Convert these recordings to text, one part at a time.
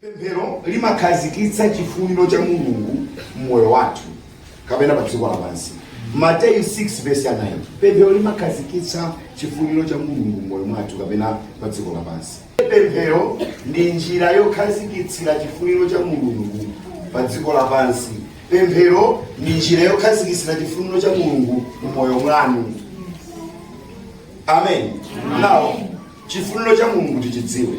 Pemphero limakhazikitsa chifuniro cha Mulungu m'moyo mwathu kapena pa dziko lapansi. Mateyu 6 vesi ya 9. Pemphero limakhazikitsa chifuniro cha Mulungu m'moyo mwathu kapena pa dziko lapansi. Pemphero ndi njira yokhazikitsira chifuniro cha Mulungu pa dziko lapansi. Pemphero ndi njira yokhazikitsira chifuniro cha Mulungu m'moyo mwanu. Amen. Now, Chifuniro cha Mulungu tichidziwe.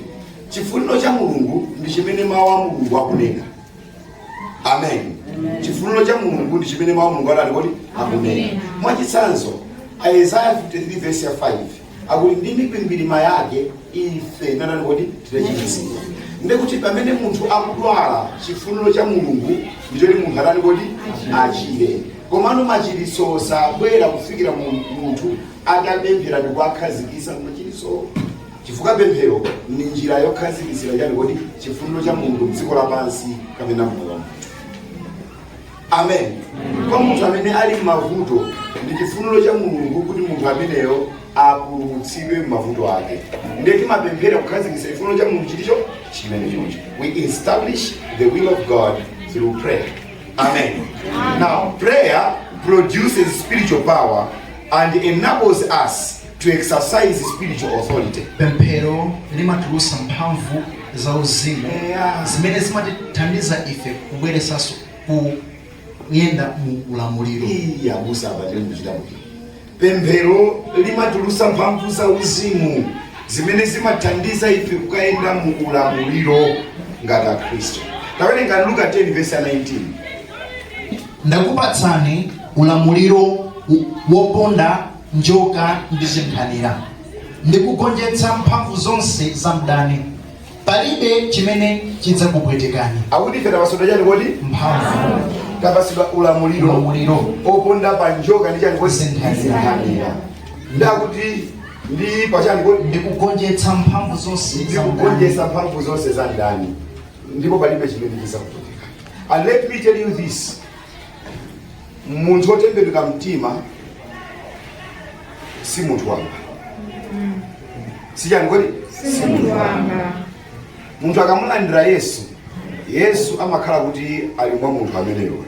Chifuniro cha Mulungu ndi chimene mawu a Mulungu akunena. Amen. Chifuniro cha Mulungu ndi chimene mawu a Mulungu akutani kodi akunena. Mwachitsanzo, Isaiah 53 verse ya 5 akuti ndi mikwingwirima yake ife tinatani kodi tinachiritsidwa. Ndi kuti pamene munthu akudwala chifuniro cha Mulungu ndi choti munthu atani kodi achire. Komano machiritso sabwera kufikira mu- munthu atapemphera ndi kuwakhazikisa machiritsowo chifukwa pemphero ndi njira yokhazikisira chani kodi chifuniro cha mulungu mdziko lapansi kapena mmoyo wa munthu amen kwa munthu amene ali m'mavuto ndi chifuniro cha mulungu kuti munthu ameneyo apulumutsidwe m'mavuto ake ndiye timapemphera kukhazikisa chifuniro cha mulungu chimenecho chimenechocho we establish the will of god through prayer Amen. Amen. Now, prayer produces spiritual power and enables us to exercise spiritual authority. Pemphero limatulusa mphamvu za uzimu yeah. zimene zimatithandiza ife kubweresanso ku kuyenda mu ulamuliro. Iya, Pemphero limatulutsa mphamvu za uzimu zimene zimathandiza ife kukayenda mu ulamuliro ngati Akhristu. Tawerenga Luka 10 vesi 19. Ndakupatsani ulamuliro woponda njoka ndi zinkhanira, ndi kugonjetsa mphamvu zonse za mdani. palibe chimene chidzakupwetekani akuti ife tapasidwa chani kodi mphamvu tapasidwa ulamuliro ulamuliro oponda pa njoka ndi chani kodi zinkhanira. nde akuti ndi pachani kodi ndikugonjetsa mphamvu zonse za mdani. ndikugonjetsa mphamvu zonse za mdani ndipo palibe chimene chidzakupwetekani and let me tell you this munthu wotembenuka mtima si munthu wamba si chani kodi si munthu wamba munthu akamulandira yesu yesu amakhala kuti ali mwa munthu ameneyo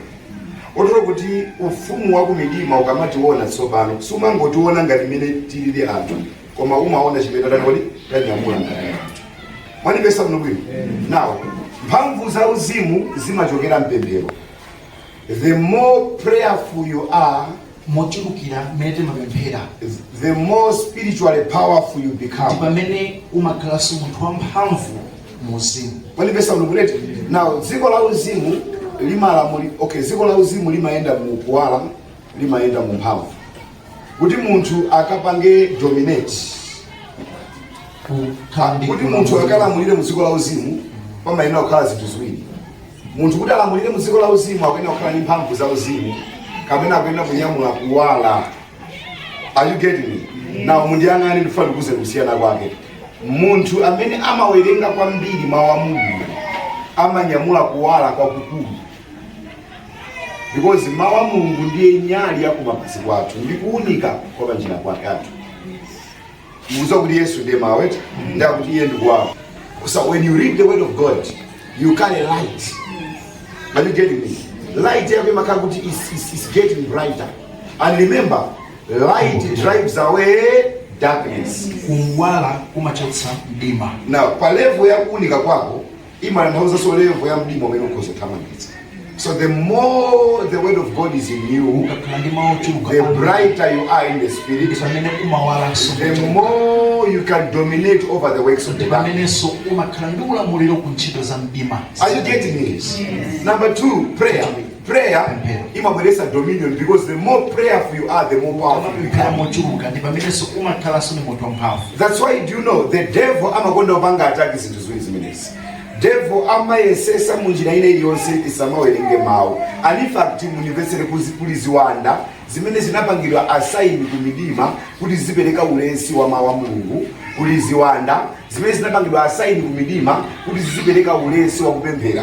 kotero kuti ufumu wa kumidima ukamationa tsopano sumangotiona ngati mmene tilili anthu koma umaona chimene tatani kodi tanyamula ngati anthu mwanipeza bwino bwino now mphamvu za uzimu zimachokera mpemphero The more prayerful you are, mochulukira mmene timapemphera the more spiritually powerful you become. Ndi pamene umakhalanso munthu wamphamvu mu uzimu Mwandimvetsa bwinobwino eti. Now, dziko la uzimu limalamuli-, okay, dziko la uzimu limayenda mu kuwala, limayenda mu mphamvu. Kuti munthu akapange dominate, kukhala ndi kuti munthu ulamuliro. akalamulire mu dziko la uzimu, pamayenera kukhala zinthu ziwiri. Munthu kuti alamulire mu dziko la uzimu akuyenera kukhala ndi mphamvu za uzimu kapena akuyenera kunyamula kuwala. Are you getting me? Now mundiyang'ane ndifuna ndikuuze kusiyana kwake. Munthu amene amawerenga kwambiri mawu a Mulungu amanyamula kuwala kwakukulu because mawu a Mulungu ndiye nyali ya kumapazi kwathu ndi kuunika kwa panjira kwake kwathu. mukudziwa kuti yesu ndiye mawu eti ndiye kuti iye ndi kuwala so when you read the word of god you carry light are you getting me light yako imakhala kuti is, is, is getting brighter and remember light drives away darkness kuwala kumachotsa mdima now level ya kuunika kwako imatanthauzanso level ya mdima umene ukhoza kuthamangitsa so the more the word of god is in you ukakhala ndi mawu ochuluka the kwambiri, brighter you are in the spirit ndi pamene umawalanso the more you can dominate over the works of the dark ndi pamenenso umakhala ndi ulamuliro ku ntchito za mdima are you getting this number two prayer Prayer imabweretsa dominion because the more prayerful you are, the more powerful you Ukamapemphera become. mochuluka ndi pamenenso umakhalanso ndi munthu wamphamvu. That's why do you know the devil amakonda kupanga attack zinthu ziwiri zimenezi. Devil amayesetsa mu njira ina iliyonse usamawerenge mawu. And in fact mundimvetsere kuzi- kuli ziwanda zimene zinapangidwa assign ku midima kuti zizipereka ulesi wa mawu a Mulungu kuli ziwanda zimene zinapangidwa assign ku midima kuti zizipereka ulesi wa kupemphera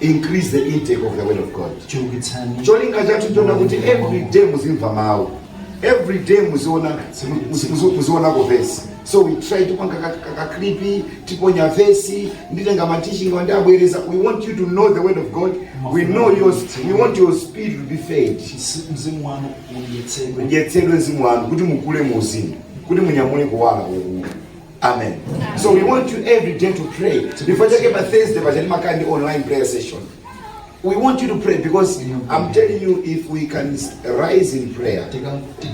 increase the intake of the word of god cholinga chathu ndi choona kuti every day muzimva mawu every day muziona muzionako vesi so we try tipanga kakaklipi tiponya vesi nditenga mateaching anga ndiabwereza we want you to know the word of god we know your, we want your spirit to be fed mzimu wanu udyetsedwe udyetsedwe mzimu wanu kuti mukule mu uzimu kuti munyamule kuwala kwakukulu amen so we want you every day to pray that's why pa thursday paja timakhala ndi online prayer session we want you to pray because i'm telling you if we can s- rise in prayer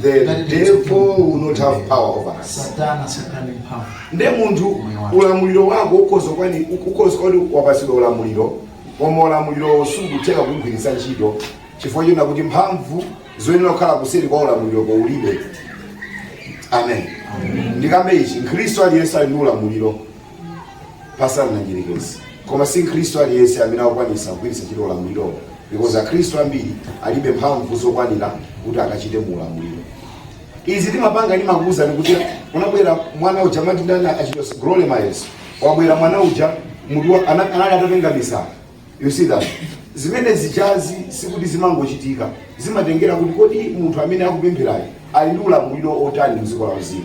the devil will not have power over us satana sakhala ndi mphamvu nde munthu ulamuliro wako ukhoza kuona ukhoza kuona wapatsidwa ulamuliro koma ulamuliro sukutha kugwiritsa ntchito chifukwa china kuti mphamvu zoyenera kukhala kuseri kwa ulamuliroko ulibe amen ndikambe ichi mkhristu aliyense ali ndi ulamuliro posana ndi mdyerekezi koma si mkhristu aliyense amene akukwanisa kugwiritsa ntchito ulamulirowo because akhristu ambiri alibe mphamvu zokwanira kuti akachite mu ulamuliro izi timapanga ndimakuuzani kuti unabwera mwana uja amati ndani achitosi Glory Miles wabwera mwana uja munthu anali atapenga misala You see that? Zimene zijazi sikuti zimangochitika. Zimatengera kuti kodi munthu amene akupempherayo ali ndi ulamuliro otani mdziko la uzimu.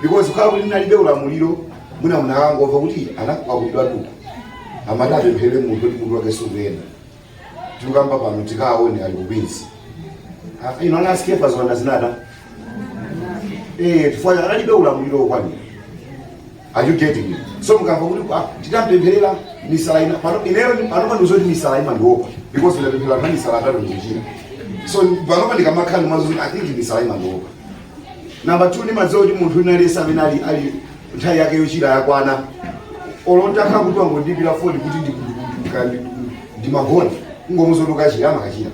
Because kukhala kuti ndinalibe ulamuliro mwina munakangomva kuti anakwakudwa tuta. Amati apemphere munthu kuti munthu wake sakuyenda. Tikukamba pano tikaone ali kubinzi. Ah, Ino anasikia pazona zinada. Eh, chifukwa analibe ulamuliro okwanira. Are you getting me? So mukamva kuti ah titapempherera misala ina pano ineyo panopa ndimadziwa zoti misala ima ndiopa because ndapemphera po amisala atatu ndikuchira. So panopa ndikamakhala ndimadziwa kuti I think misala imandiopa. Number 2 ndimadziwa kuti munthu wina aliyense amene ali ali nthawi yake yochira yakwana. Olo ntakhala kuti wangondiimbira foni kuti ndikundikundikandi ndimagona kungomuzotoka chiyama kachira.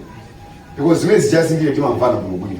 Because zimene zijazi ndi ife timamvana bwino bwino.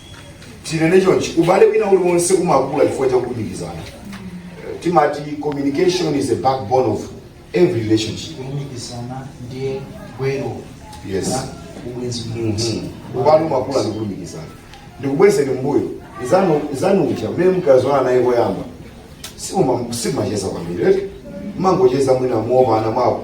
tinene chonchi ubale wina uliwonse umakula chifukwa cha kulumikizana Eh, timati communication is the backbone of every relationship kulumikizana ndiye gwero Yes. la ubwenzi umodzi ubale umakula ndi kulumikizana ndikubwezeni mbuyo izanu tsikanu lija mmene munadziwana naye koyamba simumacheza kwambiri eti mumangocheza mwina mwa pano ndi apo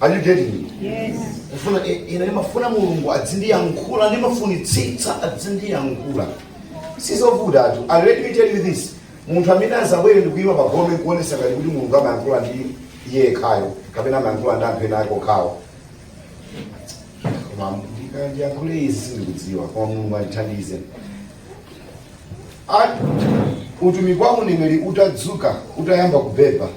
Are you getting it? Yes. Kufuna i- ine ndimafuna Mulungu adzindiyankhula ndimafunitsitsa adzindiyankhula. Sizovuta ayitu. And let me tell you this. Munthu amene azabwere ndikuyima pa gome kuonesa ngati kuti Mulungu amayankhula ndi iye yekhayo kapena amayankhula ndi anthu ena ake okhawo. Koma ndika- ndiyankhule izi sindikudziwa koma Mulungu andithandize. Ati utumiki wa uneneri utadzuka utayamba kubeba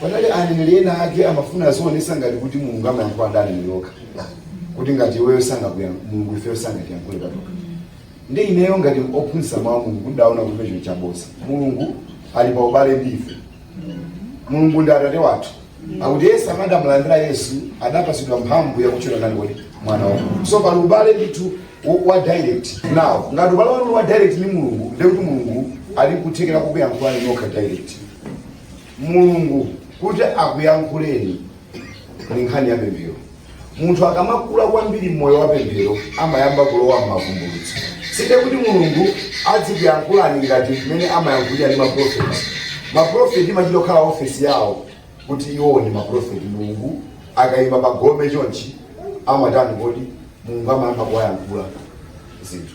Panali aneneri ena ake amafuna azionesa ngati kuti Mulungu amayankhula ndi aneneri okha. Kuti ngati iweyo sangakuya Mulungu ifeyo sangatiyankhule patokha. Ndi ineyo ngati ophunzitsa mawu a Mulungu ndaona kuti ndi chinthu chabodza. Mulungu ali pa ubale ndi ife. Mulungu ndi atate wathu. Akuti Yesu amene adamulandira Yesu adapatsidwa mphamvu yakutchulidwa ndani kodi mwana wa Mulungu. So pali ubale ndithu wo- wa direct. Now ngati ubale wanu wa direct ndi Mulungu ndiye kuti Mulungu ali nkuthekera kukuyankhulani nokha direct. Mulungu kuti akuyankhuleni ndi nkhani ya pemphero. Munthu akamakula kwambiri mmoyo wa pemphero amayamba kulowa m'mavumbulutso. Sindiye kuti Mulungu adzikuyankhulani ngati mmene amayankhulira ndi maprofeti. Maprofeti imachita kukhala ofesi yawo kuti iwowo ndi maprofeti. Mulungu akayima pa gome chonchi amatani kodi? Mulungu amayamba kuwayankhula zinthu.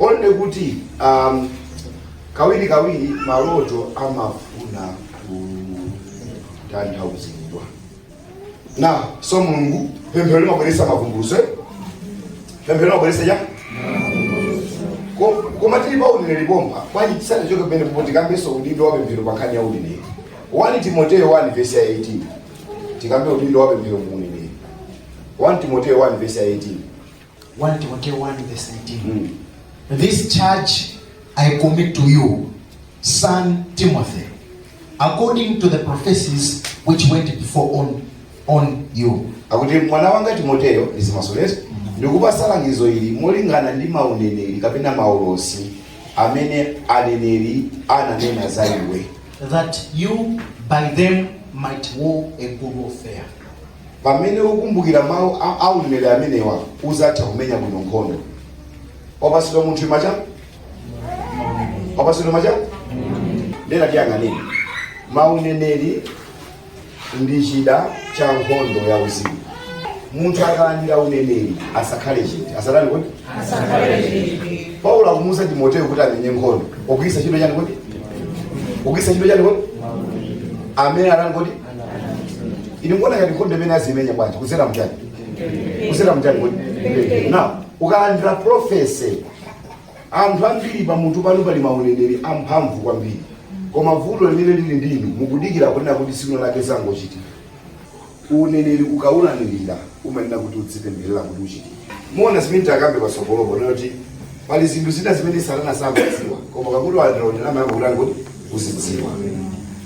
Only kuti um, kawiri kawiri maloto amafuna kutanthauzidwa na so mulungu pemphero limabweretsa mavumbulutso eh? pemphero limabweretsa cha Ko- koma tili pa uneneri pompa bwanji tisanachoke pamenepo tikambenso udindo wa pemphero pa nkhani ya uneneri 1 timoteyo 1 vesi ya 18 tikambe udindo wa pemphero mu uneneri 1 timoteyo 1 vesi ya 18 1 Timoteo 1 verse 18. This charge I commit to you, son Timothy, according to the prophecies which went before on, on you. akuti mwana wanga timoteyo ndizimasuliranso ndikupasa langizo ili molingana ndi mauneneri kapena maulosi amene aneneri ananena za iwe That you by them might war a good warfare. Pamene ukumbukira mawu a uneneri amenewa, uzatha kumenya bwino nkhondo. Wapasidwa munthu macha? Wapasidwa macha? Ndena tiyang'aneni. Mauneneri ndi chida cha nkhondo ya uzimu. Munthu akalandira uneneri asakhale chete. Asatani kodi? Asakhale chete. Paulo akumuuza Timoteo kuti amenye nkhondo. Pogwiritsa ntchito chani kodi? Pogwiritsa ntchito chani kodi? Amene atani kodi? ili ngona ngati nkhondo imene azimenya bwanji kuzera mchani kuzera mchani kodi now ukalandira prophecy anthu ambiri pamutu panu pali mauneneri amphamvu kwambiri koma vuto limene lili ndinu mukudikira kunena kuti tsiku lake zizangochitika uneneri ukaulandira umayenera kuti udzipempherera kuti uchitike muona zimene tikambe pasogolopo kuti pali zinthu zina zimene satana samadziwa koma pakuti walandira uneneri amayamba kutani kodi kuzidziwa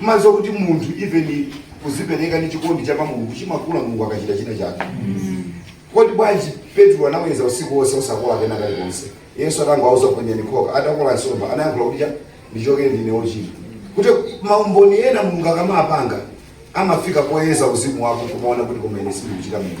mumadziwa kuti munthu even kuzipereka ndi chikondi cha pa mulungu chimakula mulungu akachita china chake kodi bwanji petro anaweza usiku wonse osakola kena kalikonse yesu atangowauza kuti ponyani khoka atakola nsomba anayankhula kuti cha ndichokere ndine ochita kuti maumboni ena mulungu akamapanga amafika poyeza uzimu wako kumaona kuti koma ine sindikuchita mulungu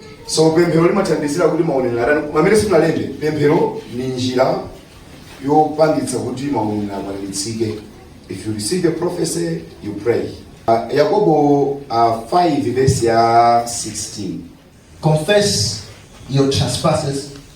so pemphero limathandizira kuti mauneneri atani pamene simunalembe pemphero ni njira yopangitsa kuti mauneneri akwaniritsidwe if you receive a prophecy you pray uh, yakobo uh, 5 verse ya 16 Confess your trespasses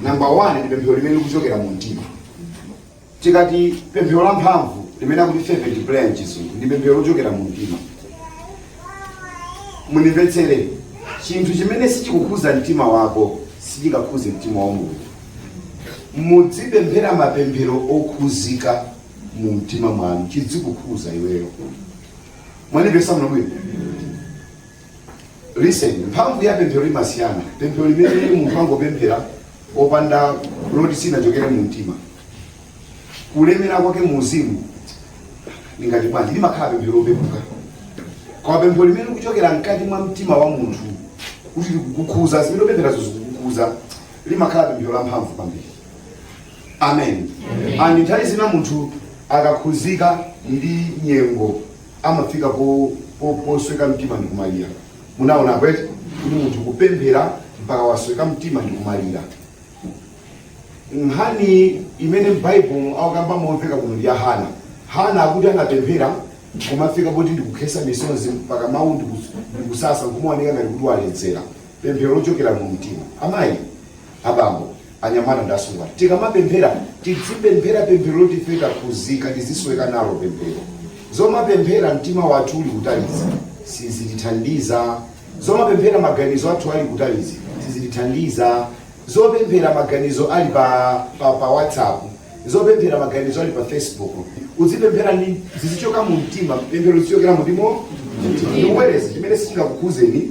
namba 1 ndi pemphero limene likuchokera mu mtima tikati pemphero la mphamvu limene akuti fervent prayer mchizungu ndi pemphero lochokera mu mtima mundimvetsere chinthu chimene sichikukhuza mtima wako sichingakhuze mtima wa mulungu mudzipemphera mapemphero okhuzika mu mtima mwanu chidzikukhuza iweyo mwandipeza bwinobwino Listen, mphamvu ya pemphero limasiyana. Pemphero limene munthu angopemphera opanda loti silinachokere mu mtima. Kulemera kwake mu uzimu lingati bwanji limakhala pemphero lopepuka. Koma pemphero limene likuchokera mkati mwa mtima wa munthu kuti likukukhuza zimene ukupempherazo zikukukhuza limakhala pemphero la mphamvu kwambiri. Amen. Amen. And nthawi zina munthu akakhuzika ndi nyengo amafika po po posweka mtima ndi kumalira munaona eti kuti munthu kupemphera mpaka wasweka mtima ndi kumalira nkhani imene m'Bible akukamba momveka kuno ndi ya hana hana akuti anapemphera kumafika poti ndikukhesa misozi mpaka mawu ndikus- ndikusasa nkumaoneka ngati kuti waledzera pemphero lochokera mu mtima amayi abambo, anyamata ndi asungwana tikamapemphera tidzipemphera pemphero loti ife takhuzika tizisweka nalo pemphero zomapemphera mtima wathu uli kutalizi sizitithandiza zomapemphera maganizo athu ali kutalizi sizitithandiza zopemphera maganizo ali pa, pa, pa whatsapp zopemphera maganizo ali pa facebook uzipemphera ndi zizichoka mu mtima pemphero lizichokera mu mtima ndikubwereza chimene sichingakukhuzeni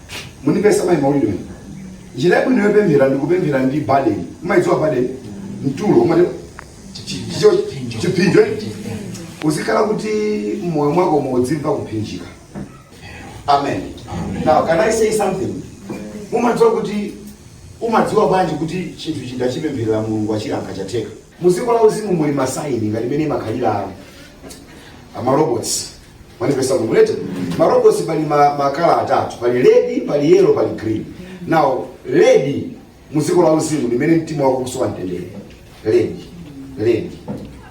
Mukundipeza mai maulidi wenu. Njira yabwino yopemphera ndi kupemphera ndi burden. Mumaidziwa burden? Mtulo umati choncho chipsinjo. Uzikhala kuti mmoyo mwako udzimva kupsinjika. Amen. Now can I say something? Mumadziwa kuti umadziwa bwanji kuti chinthu chimene ndachipempherera Mulungu achiyankha chatheka. Muziko la uzimu muli masaini ngati mmene amakhalira ma robots. mwandipeza kumulete ma robots pali ma- makala atatu pali red pali yellow pali green now red mu dziko la uzimu ndi mmene mtima wako ukusowa mtendere red red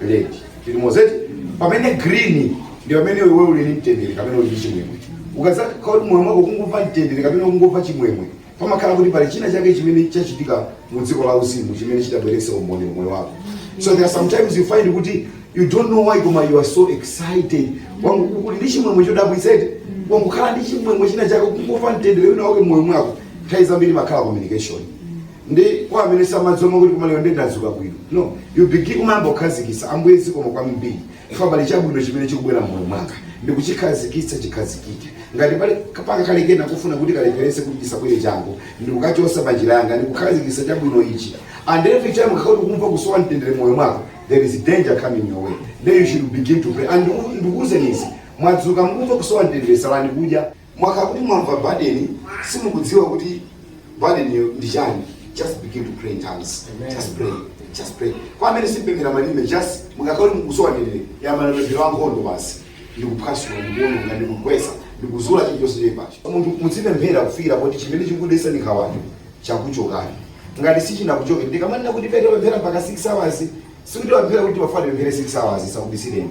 red tili limodzi eti pamene green ndi pamene iwe uli ndi mtendere kapena uli ndi chimwemwe ukazakhala kuti mmoyo mwako ukungomva mtendere kapena ukungomva chimwemwe pamakhala kuti pali china chake chimene chachitika mu dziko la uzimu chimene chikubweretsa umboni mu moyo wako so there are sometimes you find kuti you don't know why koma you are so excited wangokhala ndi chimwemwe chodabwitsa eti wangokhala ndi chimwemwe china chake kungomva mtendere wina wake mmoyo mwako nthawi zambiri imakhala communication nde kwa amene samadziwa amati koma lero nde ndadzuka bwino no you begin kumayamba kukhazikisa ambuye zikomo kwambiri chifukwa pali chabwino chimene chikubwera m'moyo mwanga ndikuchikhazikitsa chikhazikike ngati pali kapanga kalikonse kofuna kuti kalepherese kuti chisabwere changu ndikukachosa pa njira yanga ndikukhazikitsa chabwino ichi and every time ukakhala kuti ukumva kusowa mtendere m'moyo mwako there is danger coming your way then you should begin to pray and ndiku- ndikuwuzeni izi mwadzuka mukumva kusowa mtendere salani kudya Mwakhala kuti mwamva burden, simukudziwa kuti burden-yo ndi chani. Just begin to pray in tongues. Just pray. Just pray. Kwa amene simupemphera malime, just mukakhala kuti mukusowa mtendere, yambani mapemphero a nkhondo basi. Ndikuphwasula, ndikuononga, ndikugwetsa, ndikuzula chilichonse choipacho. Munthu mudzipemphera kufikira kuti chimene chikudetsani nkhawacho chakuchokani. Ngati sichinakuchokeni, ndikamanena kuti pemphera mpaka 6 hours, sikuti wapemphera kuti wafuna upemphere 6 hours, ndisakubisireni.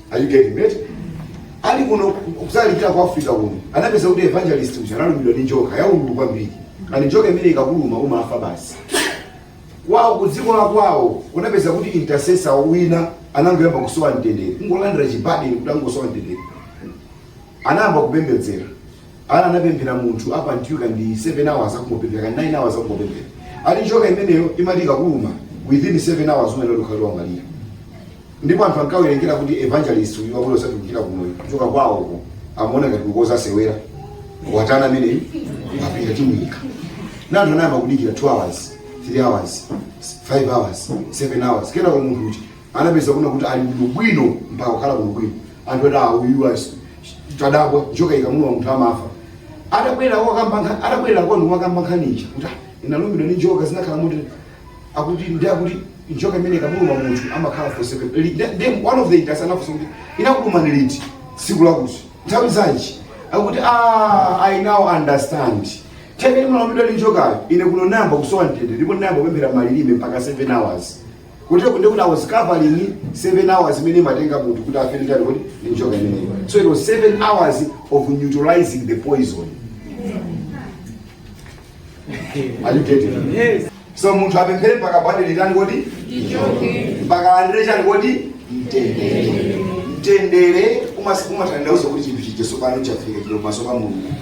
Are you getting it? Ali kuno kudzalalikira ku Africa kuno. Anapeza kuti evangelist uja analumidwa ndi njoka yaululu kwambiri. And njoka imene ikakuluma umafa basi. Kwawo ku dziko la kwawo kunapeza kuti intercessor wina anangoyamba kusowa mtendere. Kungolandira chi-burden kuti angosowa mtendere. Anayamba kupembedzera. Ana anapemphera munthu apa nditi kaya ndi 7 hours akumupemphera kaya ndi 9 hours akumupemphera. And njoka imeneyo imati ikakuluma within 7 hours umayenera kukhala utamwalira. ndipo anthu ankawerengera kuti evangelist uyu wabwera osatsanzika kumoyo kuchokera kwawoko amaona ngati akudzasewera watana ameneyu wapita timuyika ndiye anthu anayamba kudikira 2 hours 3 hours 5 hours 7 hours kenako munthu uja anapeza kunena kuti ali bwinobwino mpaka kukhala bwinobwino anthu ati auyu asi tadabwa njoka ikamuluma munthu amafa atabwera akukamba nkha- atabwera kwawo akukamba nkhani ija kuti "Ah, ndinalumidwa ndi njoka zinakhala motere akuti ndi akuti njoka imene ikamuluma munthu amakhala for 7 li- ndi- ndiye one of the intercessors anafunsa kuti inakulumani liti tsiku lakuti nthawi zanji akuti ah, i now understand time munalumidwa ndi njokayo ine kuno ndinayamba kusowa mtendere ndipo ndinayamba kupemphera malilime mpaka 7 hours kutereku ndiye kuti i was covering 7 hours imene imatenga munthu kuti afere ndi chani kodi ndi njoka imeneyo so it was 7 hours of neutralizing the poison Are you getting it? Yes. so munthu apemphere mpaka burden itani kodi mpaka alandire chani kodi mtendere mtendere umas- umatanthauza kuti chinthu chija tsopano chafika chili pamaso pa mulungu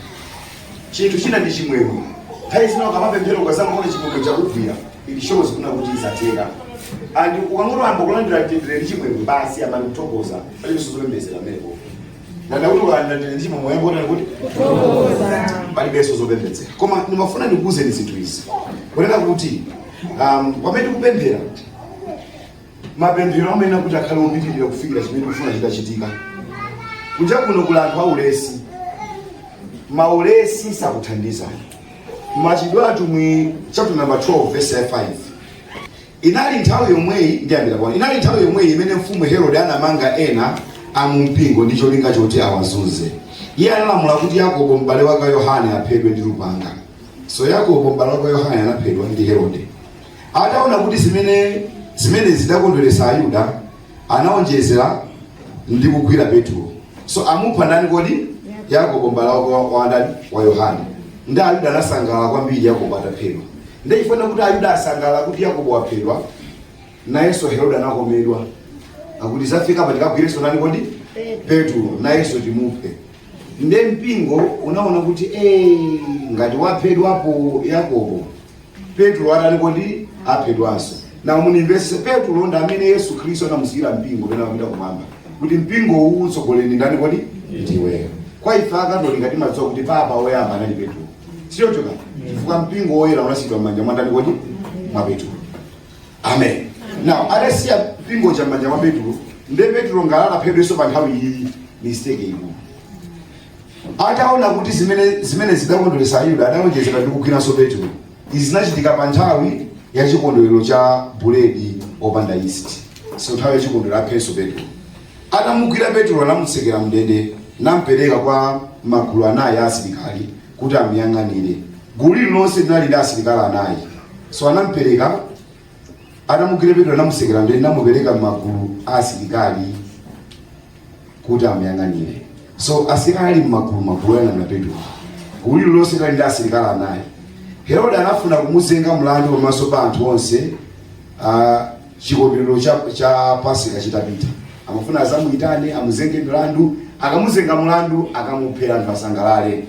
chinthu china ndi chimwemwe nthawi zina ukamapemphera ukadzangoona chimwemwe chakugwira it shows kunena kuti izi zatheka and ukangoyamba kulandira mtendere ndi chimwemwe basi yambani kuthokoza palibenso zopembedzera eko ndanena kuti ukalandira ndi chimwemwe yamba kutani kodi palibenso zopembedzera koma ndimafuna ndikuwuzeni zinthu izi kunena kuti um, pamene tikupemphera mapemphero amayenera kuti akhale opitirira kufikira chimene tikufuna chitachitika kunja kuno kuli anthu aulesi maulesi sakuthandizani machitidwe a atumwi chapter number 12 verse 5 Inali nthawi yomweyi, ndiyambira pano, inali nthawi yomweyi imene Mfumu Herode anamanga ena a mu mpingo ndi cholinga choti awazunze. Iye analamula kuti Yakobo m'bale wake wa Yohane aphedwe ndi lupanga. So Yakobo m'bale wake wa Yohane anaphedwa ndi Herode. Ataona kuti zimene zimenezi zidakondweretsa Ayuda, Anaonjezera ndi kugwira Petulo. So amupha ndani kodi? Yakobo m'bale wake wa wa ndani? Wa Yohane. Nde Ayuda anasangalala kwambiri Yakobo ataphedwa. Nde chifukwa kuti Ayuda asangalala kuti Yakobo waphedwa, nayenso Herode anakomedwa. Akuti zafika pa tikagwirenso ndani kodi? Petulo nayenso timuphe. Nde mpingo unaona kuti eh, ngati waphedwapo Yakobo petulo atani kodi aphedwanso na munimvese petulo ndi amene yesu khristu anamusiyira mpingo pena akupita kumwamba kuti mpingo uwu utsogolere ndani kodi ndiweyo kwa ife akatolika timadziwa kuti papa woyamba anali petulo sichocho kani chifukwa mpingo woyera unasiyidwa m'manja mwa ndani kodi mwa petulo amen now adasiya mpingo cha m'manja mwa petulo nde petulo ngati angaphedwenso pa nthawi iyi mistake ikulu Ataona kuti zimene zimenezi zidakondweretsa Ayuda, adaonjezera ndi kugwiranso Petro. Izi zinachitika pa nthawi ya chikondwerero cha buledi opanda yisti. So nthawi ya chikondwerero aphenso Petro. Atamugwira Petro anamutsekera mndende nampereka kwa magulu anayi a asilikali kuti amuyang'anire. Gulu lililonse linali ndi asilikali anayi. So anampereka atamugwira Petro anamutsekera mndende namupereka m'magulu a asilikali kuti amuyang'anire. So asilikali ali m'magulu magulu oyang'anira Petulo. Gulu lililonse linali ndi asilikali anayi. Herode anafuna kumuzenga mlandu pamaso pa anthu onse ah, chikondwerero cha, cha Pasika chitapita. Amafuna azamuyitane amuzenge mlandu, akamuzenga mlandu akamuphera anthu asangalale.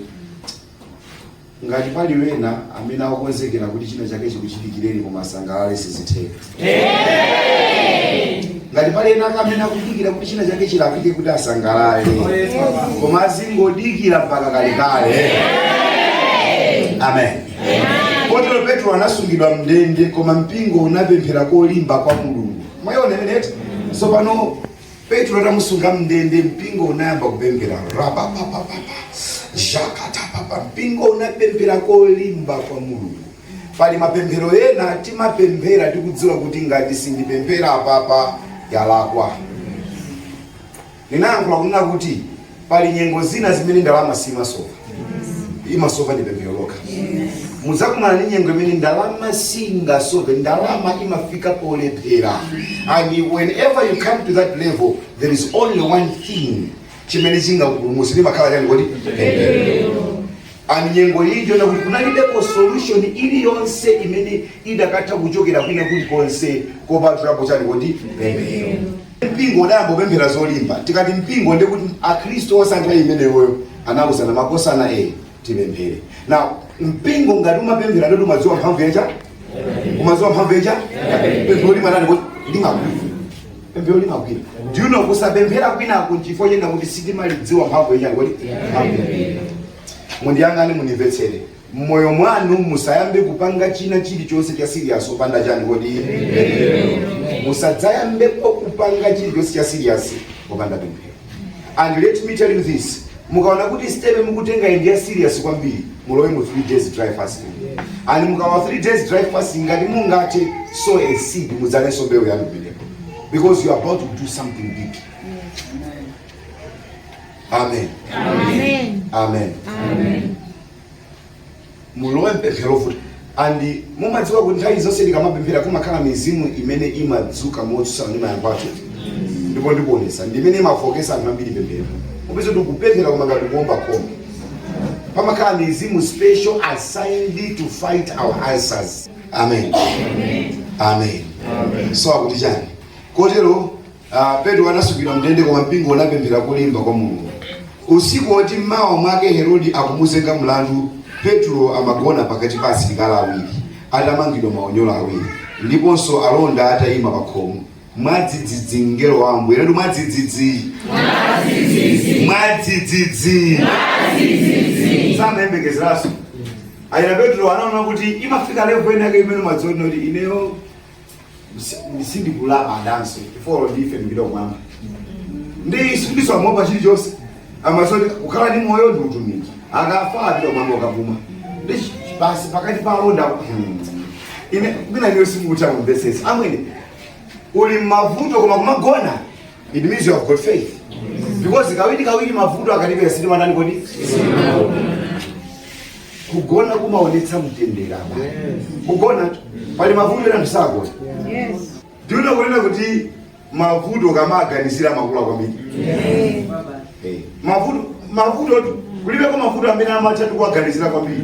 ngati pali wena amene akukonzekera kuti china chake chikuchitikireni koma asangalale sizitheka ngati pali ena amene akudikira kuti china chake chilakwike kuti asangalale koma azingodikira mpaka kalekale amen kotero petro anasungidwa mndende koma mpingo unapemphera kolimba kwa mulungu mwaiona imeneyo tsopano petro atamusunga mndende mpingo unayamba kupemphera rababababa zhakatapapa mpingo unapemphera kolimba kwa mulungu pali mapemphero ena timapemphera tikudziwa kuti ngati sindipemphera apapa yalakwa ndimayankhula kunena kuti Pali nyengo zina zimene ndalama simasova, imasova ndi pemphero lokha. Mudzakumana ndi nyengo imene ndalama singasove, ndalama imafika polephera. And whenever you come to that level, there is only one thing chimene chingakupulumutsa limakhala chani kodi pemphero. And nyengo iyi ndiona kuti kunalibepo solution iliyonse imene idakatha kuchokera kwina kulikonse kopatulapo chani kodi pemphero mpingo udayamba kupemphera zolimba tikati mpingo ndi kuti akhristu onse nthawi imeneyoyo anawuzana makosana e tipemphere now mpingo ngati umapemphera ndi woti umadziwa mphamvu yacha umadziwa mphamvu yacha pemphero limatani kodi limagwira pemphero limagwira do you know kusapemphera kwinaku nchifukwa chonena kuti sitimalidziwa mphamvu ya chani kodi mundiyang'ane mundimvetsere mmoyo mwanu musayambe kupanga china chilichonse cha serious opanda chani kodi musadzayambepo kupanga chilichonse cha serious opanda pemphero and let me tell you this mukaona kuti step mukutenga ndi ya serious kwambiri mulowe mu 3 days dry fasting and mukalowa 3 days dry fasting ngati mungathe sow a seed mudzalenso mbewu yanu pamenepo because you are about to do something big amen Amen. amen Amen. mulowe mpemphero futi and mumadziwa kuti nthawi zonse tikamapemphera kumakhala mizimu imene imadzuka motsutsana ndi mayankho athu ndipo ndikuonetsa ndi imene imafooketsa anthu ambiri pemphero upeza kuti kupemphera koma ngati kuomba khoma pamakhala mizimu special assigned to fight our answers amen amen, amen. so akuti chani kotero Uh, Petro anasungidwa mndende koma mpingo unapemphera kolimba kwa Mulungu. Usiku woti mmawa mwake Herodi akumuzenga mlandu, Petro amagona pakati pa asilikali awiri atamangidwa maunyolo awiri ndiponso alonda atayima pakhomo. Mwadzidzidzi mngelo wa Ambuye anati mwadzidzidzi mwadzidzidzi samayembekezeranso ayi Petro anaona kuti imafika level inayake imene umadziona kuti ineyo si- sindikulapa ndanso before ndife ndipita kumwamba ndi samaopanso chilichonse amazoti kukhala ndi moyo ndi utumiki akafa apita kumwamba ukavuma ndi chi- basi pakati pa alonda Hmm. ine kugona inuyo simukutha kumvesesa amwene uli mmavuto koma kumagona It means you have got faith. Because kawiri kawiri mavuto akatipeza sitimatani kodi? Kugona kumaonetsa mtendere apa. Kugona pali mavuto ena sagona. Yes. Do you know kuti mavuto ukamawaganizira amakula kwambiri. Yes. Eh, Mavuto mavuto tu kulibe kwa mavuto amene amatha ndi kuwaganizira kwambiri.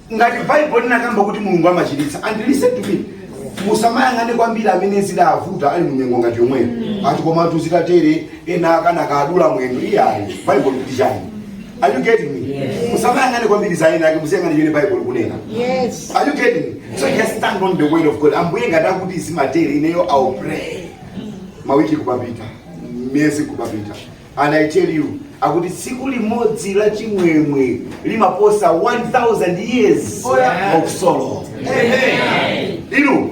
ngati baibulo linakamba kuti mulungu amachiritsa and listen to me musamayang'ane kwambiri amene zidawavuta ali munyengo ngati yomweyo ati komatu zitatere ena anakadula mwendo iyayi baibulo likuti chani are you getting me musamayang'ane kwambiri za ena ake muziyang'ana chimene baibulo likunena Yes. Are you getting me? So just stand on the word of God. Ambuye ngati mudati zimatere ineyo I'll pray. Mawiki kupapita, miezi kupapita. And I tell you, akuti tsiku limodzi la chimwemwe limaposa 1000 years Oh, yeah. of sorrow. Inu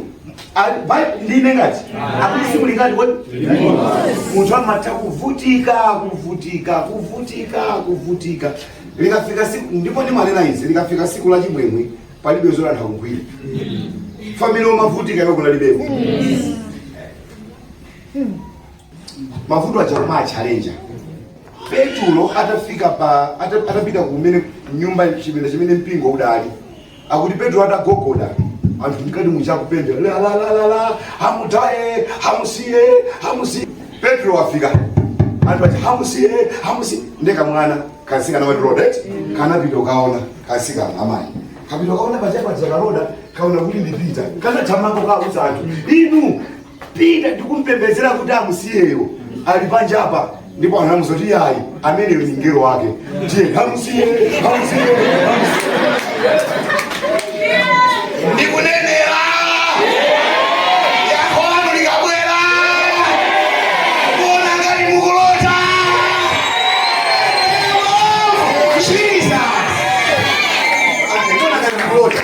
a- Bi- ndine ngati akuti tsiku lingati kodi munthu amatha kuvutika kuvutika kuvutika kuvutika likafika siku ndipo ndimanena izi likafika siku la chimwemwe palibe zola ntha kugwira family yomavutika yako kunalibeko mavuto aja koma a challenge petulo atafika pa ata- atapita kumene nyumba chipinda chimene mpingo udali akuti petulo atagogoda anthu mkati muchakupembera lalalala hamutaye hamusiye hamusiye petulo wafika anthu aja hamusiye hamusiye nde kamwana kasikana wati roda kanapita kukaona kasikana amayi kapita kukaona panja paja karoda kaona kuti ndi pita kanathamanga kukauza anthu inu pita ndikumpembedzera kuti amusiyeyo ali panjapa ndipo anamuuza kuti ayi ameneyo ndi mngelo wake ndiye amusiye amusiye ndikunenera yankho lanu likabwera kuona ngati mukulota Jesus. Ndikuona ngati mukulota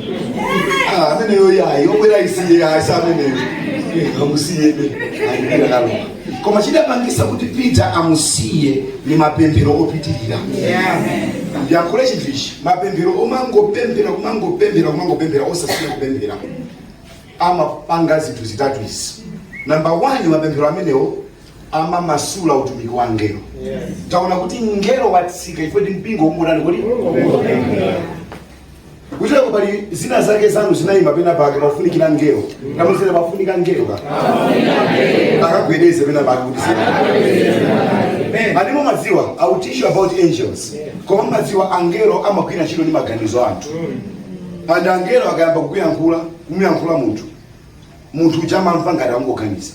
Ah, ameneyo yayi obwera isiye yayi sa ameneyo Eh, amusiyebe ayibwera naloma koma chidapangisa kuti peter amusiye ni mapemphero opitirira ndiyankhule chinthu ichi mapemphero omangopemphera kumangopemphera kumangopemphera osasiya kupemphera amapanga zinthu zitatu izi namba 1 mapemphero amenewo amamasula utumiki wa ngelo taona kuti ngelo watsika ife ndi mpingo ukutani kodi kuchitika pali zina zake zanu zinayima pena pake pafunikira ngelo namuziwa pafunika ngelo akagwedeze pena pake kuti zina ati mumadziwa i will teach you about angels koma mumadziwa angelo amagwira ntchito ndi maganizo anthu and angelo akayamba kukuyankhula kumuyankhula munthu munthu uja amamva ngati akungoganiza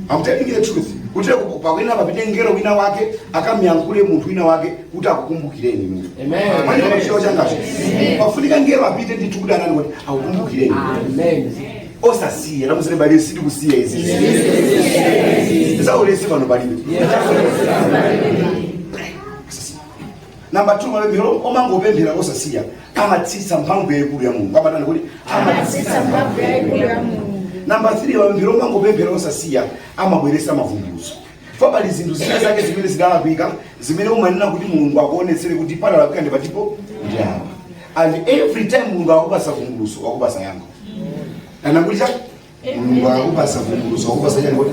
I'm telling you the truth kuti ku- pakuyenera papite ngelo wina wake akamyankhule munthu wina wake kuti akukumbukireni inu Amen. manje pacheo changacho pafunika ngelo apite ndithu kuti anani kuti akukumbukireni Amen. osasiya namuziwe bali sidi kusiya izi zaulesi pano palibe Number 2 mapemphero omangopemphera osasiya amatsitsa mphamvu yaikulu ya Mulungu. Amatani kuti amatsitsa mphamvu yaikulu ya Mulungu. Number 3 mapemphero omangopemphera osasiya amabweretsa mavumbulutso. For pali zinthu zina zake zimene zidalakwika zimene umanena kuti Mulungu akuonetsere kuti padalakwika ndi patipo ndi apa. And every time Mulungu akakupasa vumbulutso wakupasa yankho. Anakuliza mulungu akupasa vumbuluso akupasa chani kodi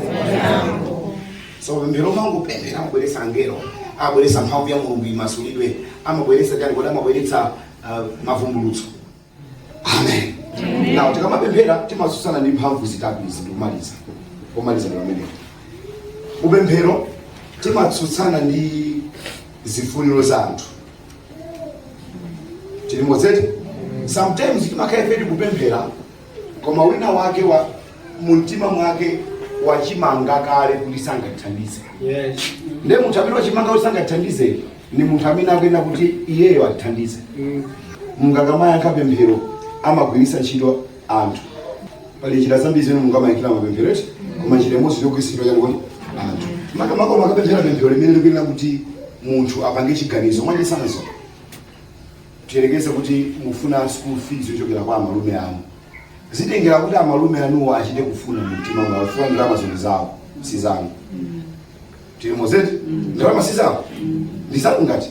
so mapemphero mangopemphera amabweresa angelo amabweresa mphamvu ya mulungu imasulidwe amabweresa chani kodi amabweretsa uh, mavumbulutso amen now tikamapemphera timasusana ndi mphamvu zitatu izi ndikumaliza pomaliza ndi pamenepo mupemphero timatsutsana ndi zifuniro za anthu tilimodzi eti sometimes timakhala ife tikupemphera koma wina wake mumtima mwake wachimanga kale kuti sangathandize Yes. nde munthu amene wachimanga kuti sangathandize ni munthu amene akuyenera kuti iyeyo athandize Mm. mulungu akamayankha pemphero amagwiritsa ntchito anthu pali njira zambiri zimene mulungu amayankhira mapemphero eti koma njira imodzi yogwiritsidwa chani kodi anthu makamaka mukapemphera pemphero limene likuyenera kuti munthu apange chiganizo mwachisanzo Tiyerekeze kuti mufuna school fees yochokera kwa amalume anu. Zitengera kuti amalume anuwo achite kufuna mumtima mwawo chifukwa ndalamazi ndi zawo si zanu. Tilimodzi eti ndalama si zawo ndi zanu ngati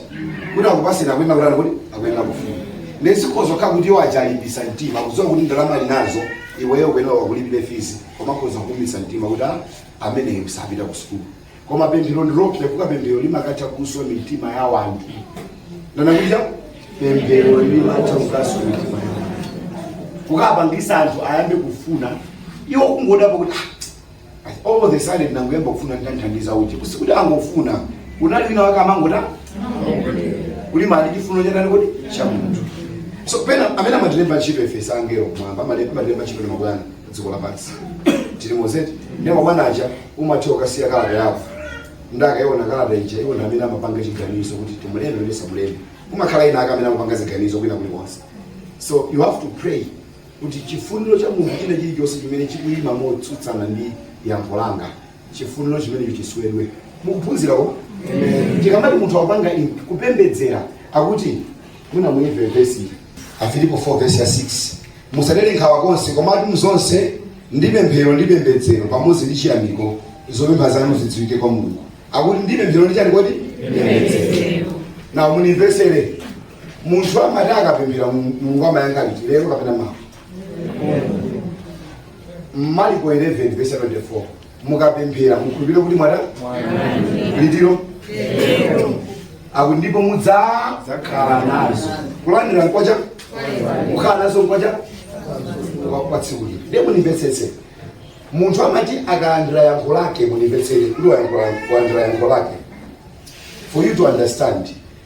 kuti akupasira akuyenera kutani kodi akuyenera kufuna. Nde zikhoza kukhala kuti iwo aja alimbisa mtima kudziwa kuti ndalama ali nazo iweyo akuyenera akulipire fees koma akhoza kuumitsa mtima kuti ah, ameneyo sapita ku school. koma pemphero ndi loopsya chifukwa pemphero limakatha kuswa mitima ya wanthu ndanakuja pemphero limatha kukaswa mitima ya wanthu kukapangisa anthu ayambe kufuna iwo kungodabwa kuti "Ah, all of the sudden nangoyamba kufuna nditamthandiza uje koma sikuti angofuna kunali wina wake amangota kuli mali chifuniro cha ndani kodi cha munthu so pena amene amatilemba ntchito ife si angelo kumwamba amale- amatilemba ntchito ndi mabwana dziko lapansi tilimodzi eti ndiye mabwana aja umatha ukasiya kalata yako ndi akaiona kalata ija iwo ndi amene amapanga chiganizo kuti timulembe kuti tisamulembe kumakhala ena ake amene amapanga ziganizo kwina kulikonse so you have to pray kuti chifuniro cha munthu china chilichonse chimene chikuyima motsutsana ndi yankho langa chifuniro chimenecho chiswedwe mukuphunzirako tikamati munthu akupanga in- kupembedzera akuti mwina muimve vesi Afilipo 4 vesi ya 6 musadere nkhawa konse komatu mzonse ndi pemphero ndi pembedzero pamodzi ndi chiyamiko zopempha zanu zidziwike kwa mulungu akuti ndi pemphero ndi chani kodi now munimvesere munthu amati akapemphera Mu- mulungu amayankha liti lero kapena mawa mariko 11 vesi 24 mukapemphera mukhulupirire kuti mwazilandira akuti ndipo mudzakhala nazo kulandira nkocha kukhala nazo nkocha kwa- kwa tsiku lina ndiye munimvetsetse munthu amati akalandira yankho lake munimvetsere kuti wayankhula- walandira yankho lake for you to understand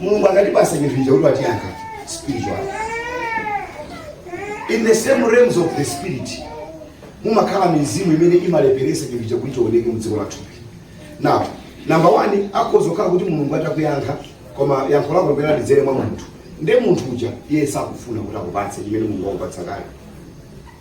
mulungu akatipasa chinthu icho kuti watiyankha spiritual in the same realms of the spirit mumakhala mizimu imene imalepheresa chinthu icho kuti chioneke mdziko lathupi now number one akhoza kukhala kuti mulungu atakuyankha koma yankho lako liyenera lidzere mwa munthu nde munthu uja iye sakufuna kuti akupatse chimene mulungu wakupatsa kale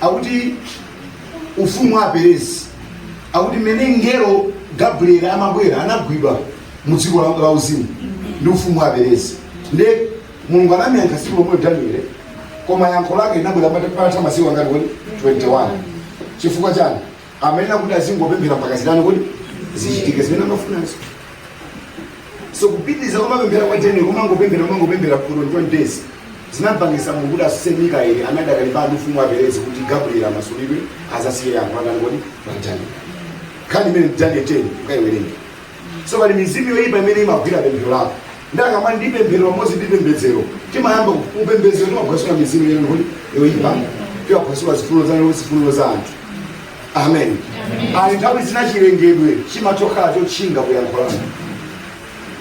akuti ufumu wa aperezi akuti mmene mngelo gabrieli amabwera anagwidwa mu dziko la- la uzimu ndi ufumu wa aperezi nde mulungu anamyankha tsiku lomwelo daniele koma yankho lake linabwera pata- patatha masiku angati kodi 21 chifukwa chani amayenera kuti azingopemphera mpaka zitani kodi zichitike zimene amafunazo so kupitiriza kumapemphera kwa daniel kumangopemphera kumangopemphera for 21 days zinapangisa mulungu kuti adzutse mikaeli anati akalimbane ndi ufumu wa aperezi kuti gabriel amasulidwe azasiye yankho kwa ndani kodi pa daniel nkhani imene daniel 10 ukaiwerenge so pali mizimu yoyipa imene imagwira pemphero lako nde akamati ndi pemphero pamodzi ndi pembedzero timayamba kupembedzera timaphwasula mizimu yanji kodi yoyipa timaphwasula zifuno za lero zifuno za anthu amen pali nthawi zina chilengedwe chimatokhala chotchinga ku yankho lako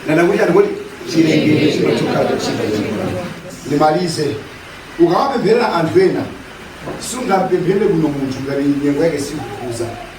ndanena kuti chani kodi chilengedwe chimatokhala chotchinga ku yankho lako ndimalize ukamapempherera anthu ena sungapempherere bwino munthu ngati nyengo yake siikukukhuza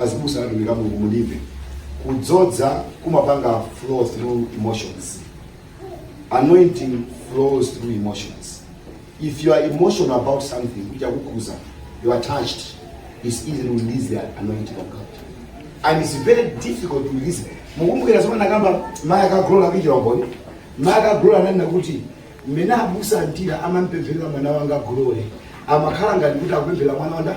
Azibusa na atumiki a Mulungu mundimve, kudzodza kumapanga flow through emotions. Anointing flows through emotions. If you are emotional about something, chakukhuza, you are touched, it's easy to release the anointing of God. And it's very difficult to release. Mukumbukira zomwe anakamba mayi ake a glory akuchitira umboni. Mayi ake a glory ananena kuti mmene abusa antira amampempherera mwana wanga glory. Amakhala ngati kuti akupempherera mwana wawo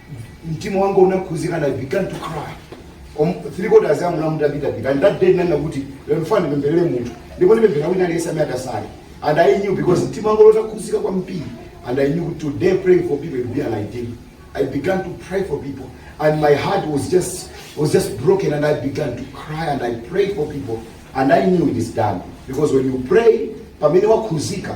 mtima wanga unakhuzika and i began to cry Om- three quarters amu namu ndapitapita and that day ndinanena kuti lero ndifuna ndipempherere munthu ndipo ndipemphera wina aliyese amene atasale and i knew because mtima wanga unakhuzika kwambiri and i knew today praying for people it would be an idea i began to pray for people and my heart was just was just broken and i began to cry and i prayed for people and i knew it is done because when you pray pamene wakhuzika